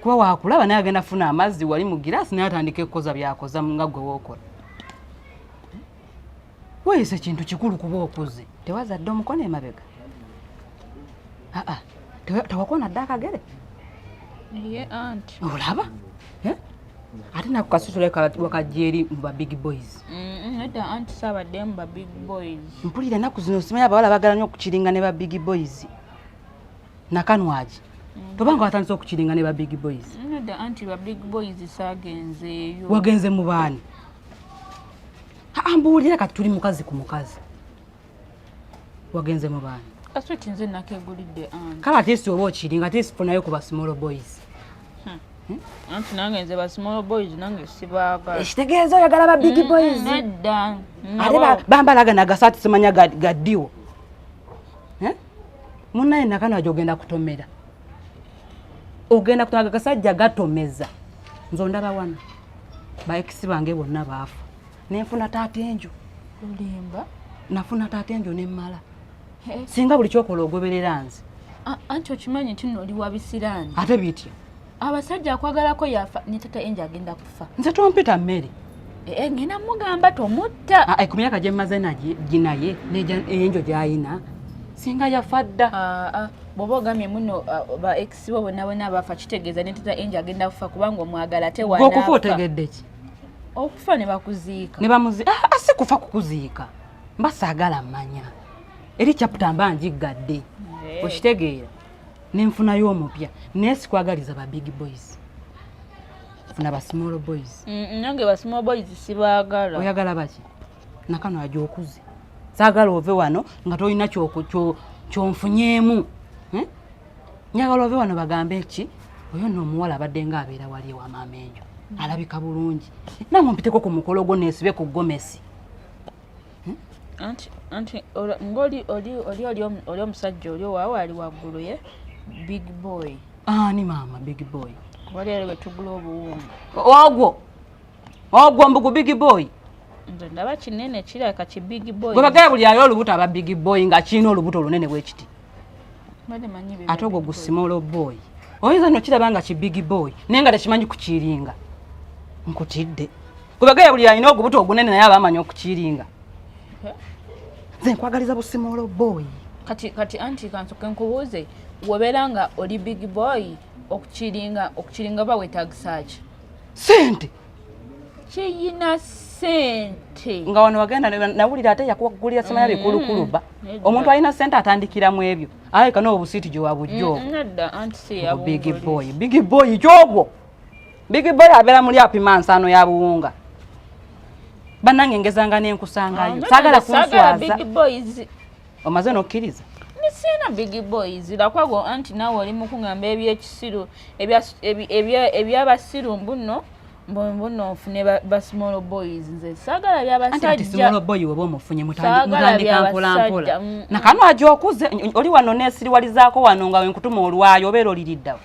kuba wakulaba naye agenda funa amazzi wali mu giraasi naye atandika ekukoza byakoza nga gwe wokola weyise kintu kikulu kuba okuze tewazadde omukono emabega aa tewakona dde akagere ye anti olaba eh? ate naku kasitula wakajeri mu ba big boys eda anti sabadde mu ba big boys mpulira enaku zino simanyi abawala bagala nyo okukiringa ne ba big boys nakanwagi tobanga watandise okukiringa ne ba big boys wagenze mu baani ambuulira kati tuli mukazi ku mukazi wagenze mu baani kale ate si oba okiringa ate sifunayo ku ba small boys hmm. Hmm? anti nange nze ba small boys nange sibaaga ekitegeeza eh, oyagala ba big hmm, boys nedda ate bambalaga nagasaati simanya gaddiwo eh? munaye nakano aja ogenda kutomera ogenda kutomaga gasajja gatomeza nze ondaba wano baekisi bange bonna baafa nenfuna taata enjo olimba nafuna taata enjo nemmala singa buli kyokola ogoberera nze anti okimanyi nti noli wabisiraani ate bitya abasajja akwagalako yafa ne tata enja agenda kufa nze tompita mmere eh, eh, ngenda mugamba tomutta ah, eh, ku myaka gyemmaze ginaye enjo gyayina singa yafa dda ah, ah. bwoba ogamye muno ba ex bo bonabona bafa kitegeeza ne tata enja agenda kufa kubanga omwagala tewaokufa otegedde ki okufa ne bakuziika ne bamuzi si kufa kukuziika mba saagala mmanya eri caputa mba njiggadde okitegeera nenfunayo omupya naye sikwagaliza ba big boys funa ba small boys mm, nange ba small boys sibagala oyagala baki nakano aja okuze sagala ove wano nga tolina kyonfunyeemu eh? nyagala ove wano bagambe ki oyo no omuwala abadde nga abeera wali ewa maama enjo alabika bulungi nange mpiteko ku mukolo gwo nesibe ku gomesi hmm? anti anti ngoli oli oli oli oli omusajja oli owawe ali waggulu ye big boy ani ah, maama big boy waliero wetugula obuwunga ogwo ogwo mbugu big boy nze ndaba kinene kiraka ki big boy gwebagala buli ayo olubuto aba big boy nga kirina olubuto olunene bwekiti ate ogwo gusimolo boy oyinza nokiraba nga kibigi boy naye nga tekimanyi kukiringa nkutidde kubagaya buli alina ogubuto ogunene naye aba amanyi okukiringa nze nkwagaliza busimolo boy kati kati anti kansoke nkubuuze wobeera nga oli big boy okukiringa okukiringa oba wetagisa ki sente kiyina sente nga wano wagenda nawulira ate yakuwagulira simanya mm-hmm. bikulukulu ba omuntu alina sente atandikira mu ebyo alabika noobu siiti gyewabujjo mm-hmm. big boy big boy kyogwo big boy abeera muli apima nsaano ya buwunga banange ngezanga nenkusangayo ah, sagala kunswaza omaze n'okkiriza siina big boys lakwago anti naawe oli mukungamba ebyekisiru ebyabasiru mbuno mbuno ofune basmall boys nze sagala byabasajjaboy weba omufunye mutandika mpolampola mm. nakano aja okuze oli wano nesiriwalizaako wano nga wenkutuma olwayo obeera oliriddawo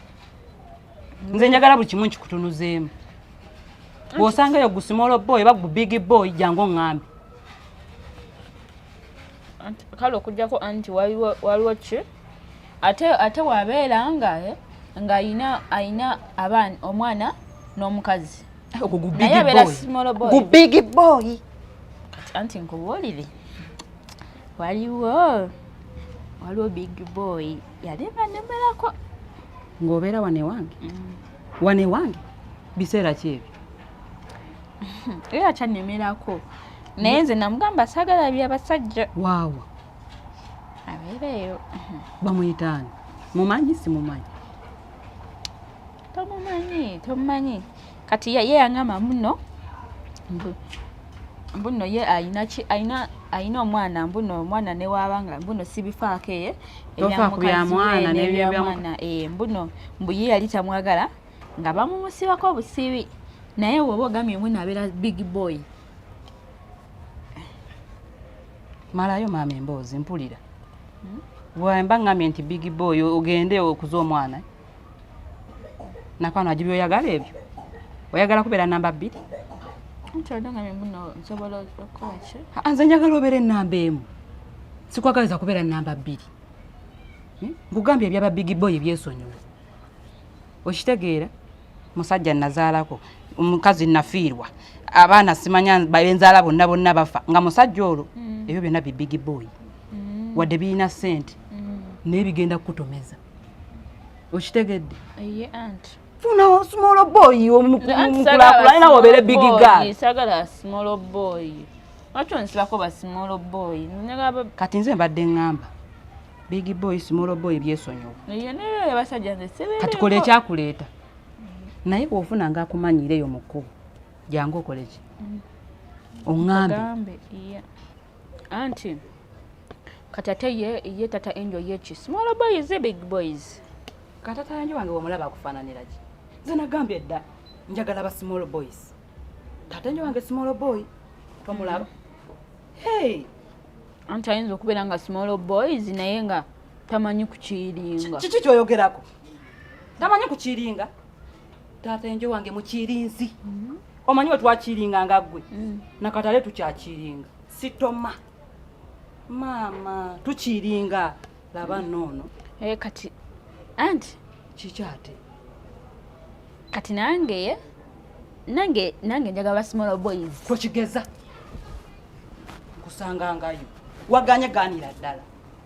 nze njagala buli kimu nkikutunuzeemu bwosangayo gusmall boy oba gu big boy jangu oŋambe kale okujjako anti waliwo ki ate ate wabeera nga eh, nga ayina ayina abaana omwana n'omukazi naye abeera simolo boy gu big boy kati anti nkubuulire waliwo waliwo big boy yali banemerako ng'obeera wanewange mm. wanewange biseera ki ebyo era kyannemerako naye nze namugamba sagala bya basajja waawa abeereeyo bamuyitaani mumanyi simumanyi tomumanyi tomumanyi kati ye yangamba muno mbuno ye alina omwana mbuno omwana newaaba nga mbuno sibifaako eye ebyamukazimwana mbuno mbuye yali tamwagala nga bamumusibako obusibi naye woba ogamye omwe nabeera big boy malayo maama emboozi mpulira hmm? wemba ngamye nti big boy ogende okuza omwana nakwano ajibi oyagala ebyo oyagala kubeera namba bbiri nze njagala obeera enamba emu sikwagaliza kubeera namba bbiri hmm? nkugambye ebyaba big boy byesonyiwa okitegeera musajja nazaalako omukazi nafiirwa abaana simanya benzaala bonna bonna bafa nga musajja olwo mm. ebyo byonna bibigi boy mm. wadde birina sente mm. naye bigenda kukutomeza okitegedde funawo small boy omukulakulanye nawe obeere bigi gal kati nze mbadde ngamba big boy small boy byesonyiwa kati kola ekyakuleeta naye bwofuna nga akumanyire eyo mukkubo jangu okoleki mm. oŋambe anti kati ate ye tata enjo yeki small boys e big boys katata enjo wange wamulaba akufaananiraki nze nagambye dda njagala ba small boys tata enjo wange small boy tomulaba mm. hey. anti ayinza okubeera nga small boys naye nga tamanyi kukiringa kiki kyoyogerako tamanyi kukiringa taata enjo wange mukirinzi mm-hmm. omanyi wetwakiringa nga gwe mm. nakatale tukyakiringa sitoma maama tukiringa laba mm. noono eh, kati anti kikyate kati nange nange nange njaga ba small boys kwekigeza kusanga ngayo waganye ganira ddala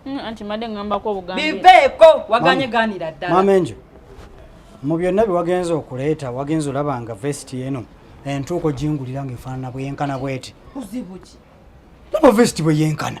mm, anti made ngambako obugambi bibeeko waganye ganira ddala mama enjo mu byonna byewagenza okuleeta wagenza olaba nga vesti eno entuuko gingulira nga efaanana bweyenkana bweti kuzibuki naba vesti bweyenkana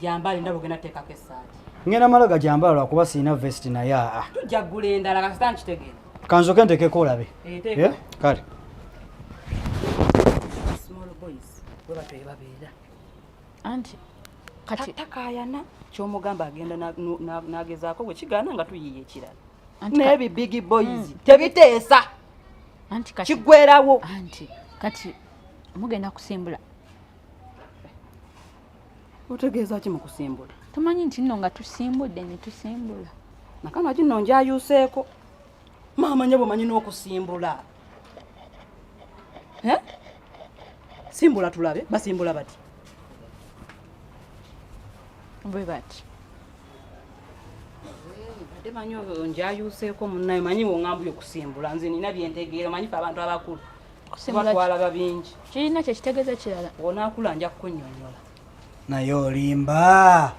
jambaali ndaba ogenda teekako essaati ngenda mala gajambaala lwakuba sirina vesti naye aa ah, ah. tujja ggula endala kasita nkitegeera kanzoke ntekeko olabe eh, eh, kale anti kati takayana kyomugamba agenda nagezaako bwekigaana nga tuyiye ekirala naye bi big boys hmm. tebiteesa kigwerawo anti kati mugenda kusimbula otegeeza ki mu kusimbula tomanyi nti nno nga tusimbudde ne tusimbula nakana kinno njayuuseeko maama nyabo manyi n'okusimbula simbula tulabe basimbula bati bwe bati ate manyi njayuuseeko munnayo manyi wongambuli okusimbula nze nina byentegeera manyi fe abantu abakulu kirina kyekitegeza kirala onakula nja kukunyonyola naye olimba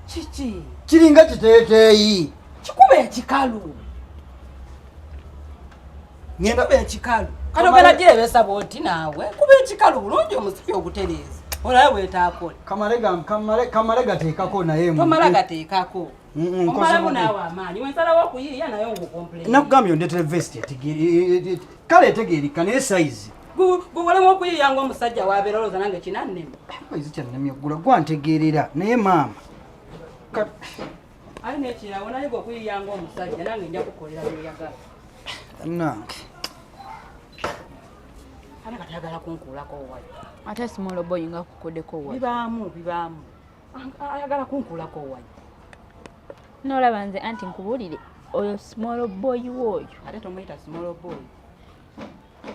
kiki kiringa kiteteeyi kikuba ekikalu ngenda kuba ekikalu kati ogenda girebesa bwoti naawe kuba ekikalu bulungi omusipi ogutereeza olabe bwetaakole kamale gateekako naye tomala gateekako nakugambye ondetere vest kale etegeerika naye sayizi gugulemu okuyiiya nga omusajja wabeera olowooza nange kinannema ezi kyannemye okugula gwantegeerera naye maama ali nekirawo naye gwe okuyiiya nga omusajja nange nja kukolera byoyagala nange ana katayagala kunkuulako wali ate simoloboyinga kukodeko wali bibaamu bibaamu ayagala kunkulako wayi nolaba nze anti nkubulire oyo small boy woyo ate tomuyita small boy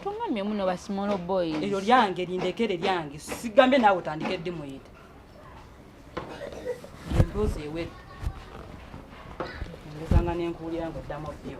tungambye muno ba small boy eryo lyange lindekere lyange sigambye naawe otandike ddi muyita emboozi ewedde ndekanga nenkuwulira ngaoddamu byo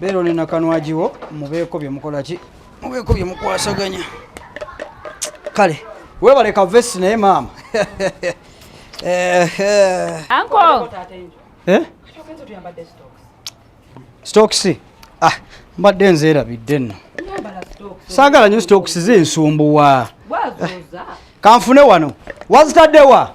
beera oli nakanwagiwo mubeeko bye mukola ki mubeeko bye mukwasaganya kale webale ka vesi naye maama anko eh? stokisi eh? ah, mbadde nzeerabidde nno saagala nyo stokisi zinsumbuwa kanfune wano wazitaddewa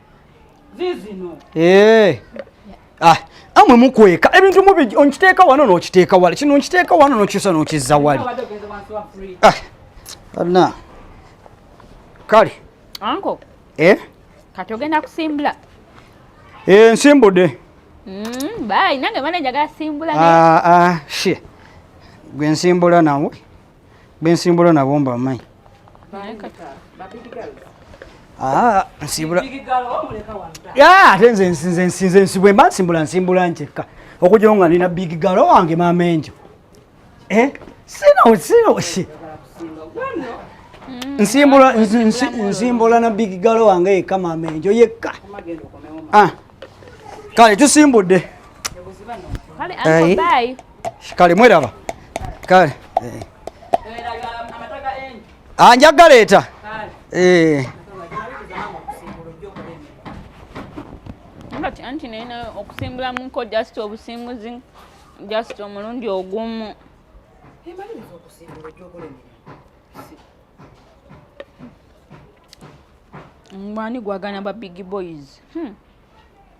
zizino eh ah amwe mukweka ebintu mubi onkiteeka wano n'okiteeka wala kino nkiteeka wano n'okyusa n'okizza wali ah, anna kale anko eh? kati ogenda kusimbula eh, nsimbude mm, bayi nange mana njagala simbula ah, ah, she gwe nsimbula nawe bensimbula nabo mbamanyi ate nze nsinze nsibwe mba nsimbula nsimbula nkyekka okugyawo nga nina big galo wange maama enjo eh? sino sino nsimbula nsimbula na big galo wange yekka maama enjo yekka ah. kale tusimbudde kale mweraba kale anja galeeta anti naye okusimbula munko just obusimbuzi just omulundi ogumu mwani gwagana ba big boys hmm.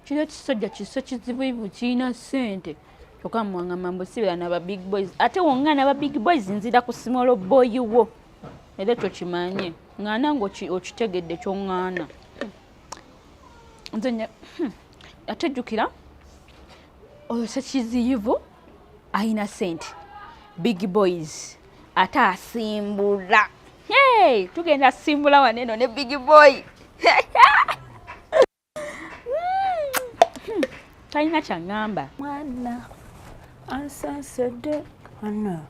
kino ekisajja kiso kizibuivu kirina sente kyokka muwangamba mbusibira naba big boys ate wonga naba big boys nzira ku simolo boyi wo era ekyo kimanye ŋŋaana nga okitegedde kyoŋŋaana hmm. nze hmm. ate jjukira oyo sekiziyivu ayina sente big boys ate asimbula hey, tugenda simbula waneno ne big boy hmm. talina kyaŋŋamba mwana ansansedde ana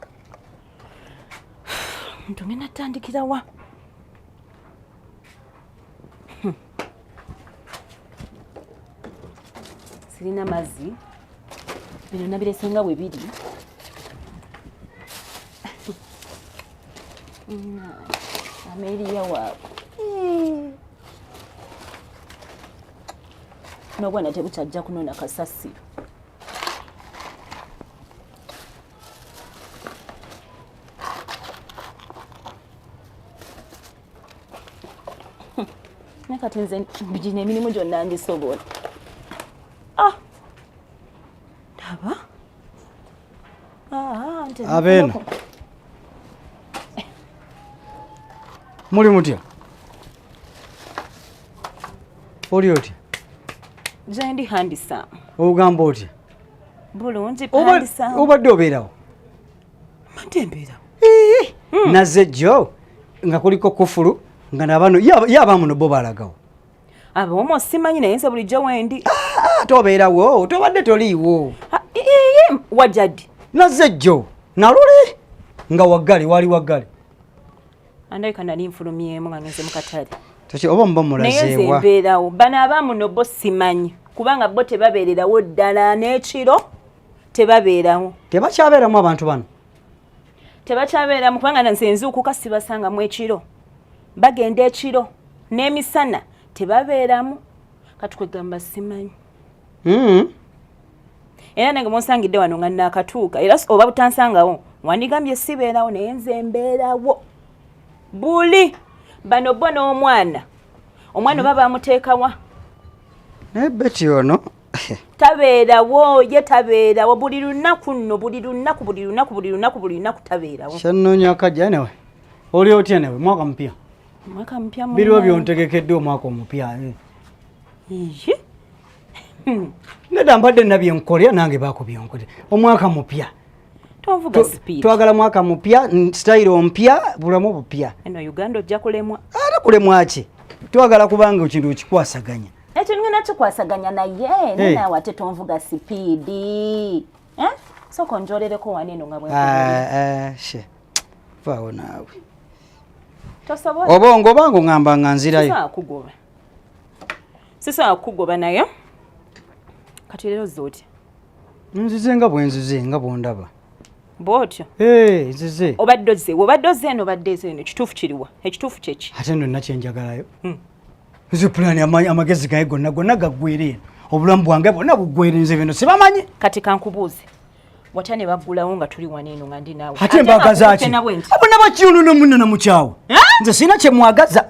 ntugenda tandikira wa sirina mazzi bino nabirese nga bwe biri ameriya waabwe n'obwana tebukyajja kunona kasasiro naye kati nze gino emirimu gyonna ngisobola ah! ndaba ah, ah, abeena muli mutya oli otya gyendi handisa ogamba otya bulungi obadde obeerawo mantembera hmm. naze jo nga kuliko kufulu nga nabano yaba muno bo balagawo abomo simanyi naye nze bulijjo wendi ah, ah, tobeerawo tobadde toliiwo ah, wajadi naze jo naluli nga waggale wali waggale andabika nali nfulumyemu nga ngenze mukatale toki oba muba mulazeewa naye nze mbeerawo bano abamuno bo simanyi kubanga bo tebabeererawo ddala n'ekiro tebabeerawo tebakyabeeramu abantu bano tebakyabeeramu kubanga nze nzuukuka sibasangamu ekiro bagenda ekiro n'emisana tebabeeramu kati kwegamba simanyi hmm. era nange munsangidde wano nga naakatuuka era oba butansangawo wandigambye sibeerawo naye nze mbeerawo buli bano bo n'omwana omwana oba bamuteekawa naye beti ono tabeerawo ye tabeerawo buli lunaku nno buli lunaku buli lunaku buli lunaku buli lunaku tabeerawo kyannoonya akajja newe oli otya newe mwaka mupya mwaka mupya biriwo byontegekeddwa omwaka omupya nedda mbadde nabyenkolera nange bakubyonkolera omwaka mupya twagala mwaka mupya sitayiro mpya bulamu bupya eno uganda ojja kulemwa ate kulemwa ki twagala kubanga ekintu okikwasaganya ekyo ngena kikwasaganya naye eh. nenawe ate tonvuga sipiidi eh? soka onjolereko waneno nga bwevaawo ah, ah, naawe obongo obanga ongamba nga nzirayo sisobola kukugoba naye kati leero zoti nzize nga bwenzize nga bwondaba bwotyo nzize obadde ozze obadde ozze eno obadde ezo eno ekituufu kiriwa ekituufu kyeki ate no nakyenjagalayo hmm. nze pulaani amagezi gaye gonna gonna gaggwera eno obulamu bwange bwonna buggwera nze bino sibamanyi kati kankubuuze wata ne baggulawo nga tuli wano eno nga ndi naawe ate mbagazaki abona bakiyonono munona mukyawo nze sirina kyemwagaza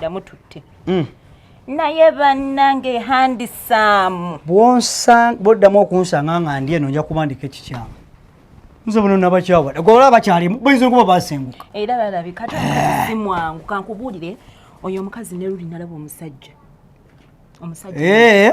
damututte mm. naye bannange handisaamu bwoddamu okunsanga nga ndi eno nja kubandika ekikyamu nze buno nabakyawa gola bakyalimu bayinza okuba basenguka era balabika si mwangu kankubuulire oyo omukazi ne luli nalaba omusajja omusajja eh.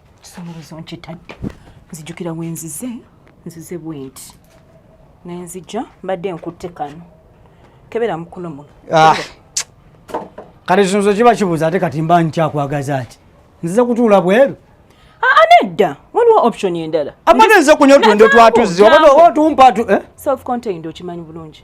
kisumuluzo nkitadde nzijukira wenzize nzize bwenti nenzija mbadde nkutte kano kebera mukuno muno ah. kati kisunzo kiba kibuuza ate kati mba nkyakwagaza ati nzize kutuula bweru nedda waliwo option endala amagezi okunywa otuntu twatuzzi oba otumpa tu eh? self contained okimanyi bulungi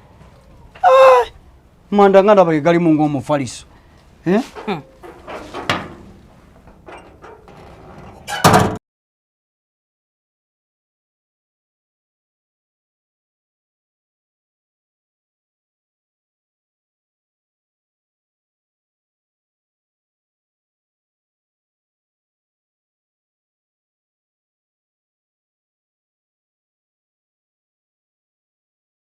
Ah! manda nga ndaba gegalimu ng'omufaliso eh? hmm.